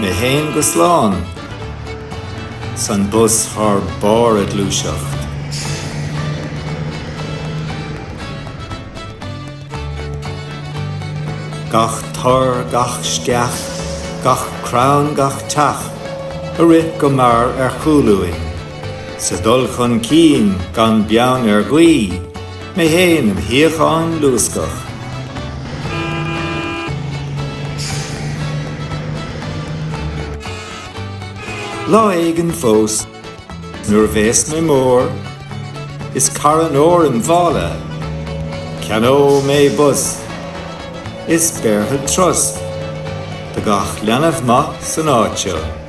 Mé fhéin go slán. 'S an bus ar barr a ghluaiseacht. Gach tor, gach sceach, gach crann, gach teach, ag rith go mear ar chúl uainn, sa dul chun cinn gan beann ar ghaoith. Mé fhéin im shuíochán luascach. Lá éigin fós, nuair a bheas mé mór, is carn óir im mhála, ceannóidh mé bus, is béarfad turas do gach leanbh maith san áit seo.